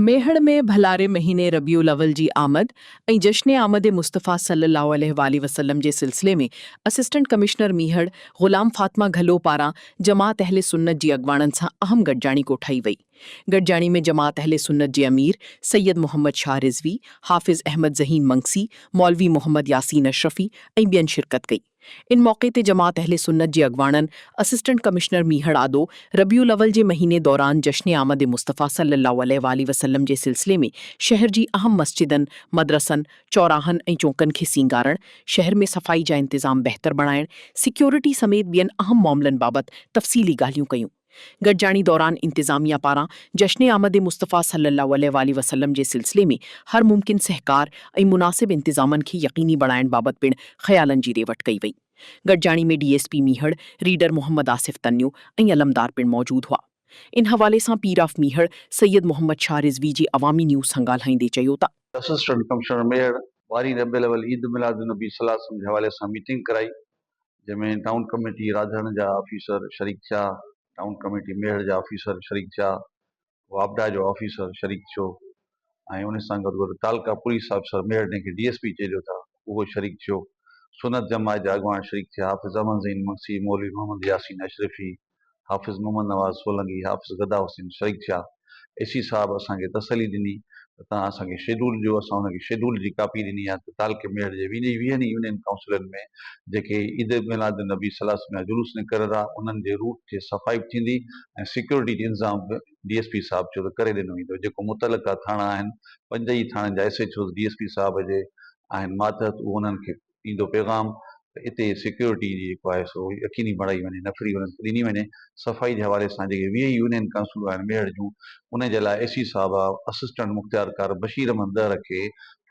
ميهڙ ۾ ڀلاري مهيني ربيع الاول جي آمد ۽ جشن آمد مصطفيٰ صلّي الله عليه واٰله وسلّم جي سلسلي ۾ اسسٽنٽ ڪمشنر ميهڙ غلام فاطمه گهلو پاران جماعت اهل سنت جي اڳواڻن سان اهم گڏجاڻي ڪوٺائي وئي. گڏجاڻي ۾ جماعت اهل سنت جي امير سيد محمد شاهه رضوي، حافظ احمد ذهين منگسي، مولوي محمد ياسين اشرفي ۽ ٻين شرڪت ڪئي. ان موقعي تي جماعت اهل سنت جي اڳواڻن اسسٽنٽ ڪمشنر ميهڙ آدو ربيع الاول جي مهيني دوران جشن آمد مصطفيٰ صلي الله عليه واٰله وسلم جي سلسلي ۾ شهر جي اهم مسجدن، مدرسن، چوراهن ۽ چونڪن کي سينگارڻ، شهر ۾ صفائي جا انتظام بهتر بڻائڻ، سيڪيورٽي سميت ٻين اهم معاملن بابت تفصيلي ڳالهيون ڪيون. گڏجاڻي دوران انتظاميا پاران جشن آمد مصطفيٰ صلي الله عليه واٰله وسلم جي سلسلي ۾ هر ممڪن سهڪار ۽ مناسب انتظامن کي يقيني بڻائڻ بابت پڻ خيالن جي ڏي وٺ ڪئي وئي. گڏجاڻي ۾ D S P Mehar, reader Muhammad Asif Tunio ۽ Alamdar پڻ موجود هئا. ان حوالي سان پير آف ميهڙ سيد محمد شاهه رضوي جي عوامي نيوز سان ڳالهائيندي چيو ته. اسسٽنٽ ڪمشنر ميهڙ واري ربيع الاول عيد ميلاد النبي صلي الله عليه وسلم جي حوالي سان ميٽنگ ڪرائي جنهن ۾ ٽائون ڪميٽي راڌڻ جا آفيسر شريڪ ٿيا، ٽائون ڪميٽي ميهڙ جا آفيسر شريڪ ٿيا، واپڊا جو آفيسر شريڪ ٿيو ۽ ان سان گڏ گڏ تعلقه پوليس آفيسر ميهڙ جنهن کي ڊي ايس پي چئجو ٿا اهو شريڪ ٿيو، سنت جماعت جا اڳواڻ شريڪ ٿيا، حافظ احمد زين منشي، مولوي محمد ياسين اشرفي، حافظ محمد نواز سولنگي، حافظ گدا حسين، شريق شاهه ايسي صاحب اسان کي تسلي ڏني ته توهان اسان کي شيڊول ڏيو، اسان هن کي شيڊول جي ڪاپي ڏني آهي ته تعلقي ميڙ جي ويهن ئي ويهن يونين ڪائونسلن ۾ جيڪي عيد ميلاد النبي صلي الله عليه وسلم جا جلوس نڪرندا انهن جي روٽ جي صفائي به ٿيندي ۽ سيڪيورٽي جو انتظام به ڊي ايس پي صاحب چيو ته ڪري ڏنو ويندو جيڪو متعلقه ٿاڻا آهن پنج ئي ٿاڻن جا S H Os D S P صاحب جي آهن ماتحت اهو انهن کي ايندو پيغام ته اتي سيڪيورٽي جي جيڪو آهي سو يقيني بڻائي وڃي نفري انهن کي ڏني وڃي صفائي جي حوالي سان جيڪي ويهه يونين ڪنسلون آهن ميهڙ جون انهن جي لاء اي سي صاحب اسسٽنٽ مختيارڪار بشير احمد ڏهر کي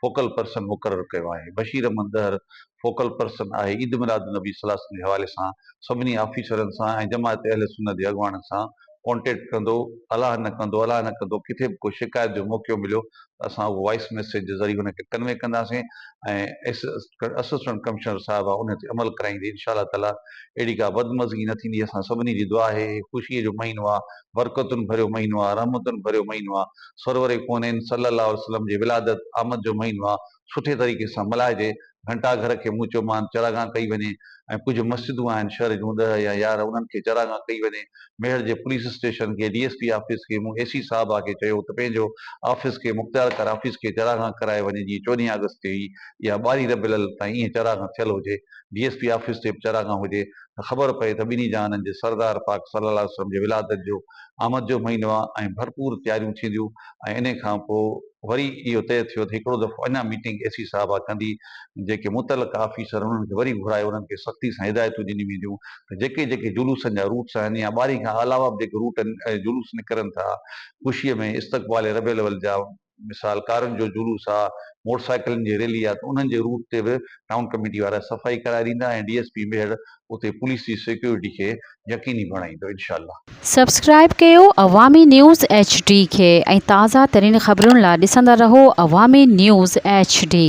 فوڪل پرسن مقرر ڪيو آهي بشير احمد ڏهر فوڪل پرسن آهي عيد ميلاد النبي صلي الله عليه وسلم جي حوالي سان سڀني آفيسرن سان ۽ جماعت اهل سنت جي اڳواڻن سان ڪانٽيڪٽ ڪندو الاهه نه ڪندو الاهه نه ڪندو ڪٿي به ڪو شڪايت جو موقعو مليو ته اسان اهو وائيس ميسيج جي ذريعي ان کي ڪنوي ڪنداسين ۽ اسسٽنٽ ڪمشنر صاحبه ان تي عمل ڪرائيندي انشاء الله تعالي اهڙي ڪا بدمزگي نه ٿيندي اسان سڀني جي دعا آهي هي خوشي جو مهينو آهي برڪتن ڀريو مهينو آهي رحمتن ڀريو مهينو آهي سرور ڪونين صلي الله عليه وسلم جي ولادت آمد جو مهينو آهي سٺي طريقي سان ملهائجي، گهنٽا گهر کي مون چيو مان چراگاهه ڪئي وڃي ۽ ڪجهه مسجدون آهن شهر جون ڏهه يا يارهن انهن کي چراگاهه ڪئي وڃي، ميهڙ جي پوليس اسٽيشن کي، ڊي ايس پي آفيس کي، مون اي سي صاحب آ کي چيو ته پنهنجو آفيس کي مختيار ڪر آفيس کي چراگاهه ڪرائي وڃي جيئن چوڏهين آگسٽ تي هئي يا ٻارهين ربيع الاول تائين ايئن چراگاهه ٿيل هجي، ڊي ايس پي آفيس تي به چراگاهه هجي، ته خبر پئي ته ٻنهي جهانن جي سردار پاڪ صلي الله عليه وسلم جي ولادت جو آمد جو مهينو آهي ۽ ڀرپور تياريون ٿينديون ۽ انهي کان پوء وري اهو طئي ٿيو ته هڪڙو دفعو اڃا ميٽنگ اي سي صاحبه ڪندي جيڪي متعلقه آفيسر انهن کي وري گهرائي انهن کي سختي سان هدايتون ڏنيون وينديون ته جيڪي جيڪي جلوسن جا روٽس آهن يا ٻاري کان علاوه به جيڪي روٽ جلوس نڪرن ٿا خوشي ۾ استقبال ربيع الاول جا مثال ڪارن جو جلوس آ، موٽر سائيڪلن جي ريلي آ ته انهن جي روٽ تي به ٽائون ڪميٽي وارا صفائي ڪرائي ڏيندا ۽ ڊي ايس پي ميهڙ اتي پوليس جي سيڪيورٽي کي يقيني بڻائيندو انشاء الله. سبسڪرائيب ڪيو عوامي نيوز ايڇ ڊي کي ۽ تازه ترين خبرن لا ڏسندا رهو عوامي نيوز ايڇ ڊي.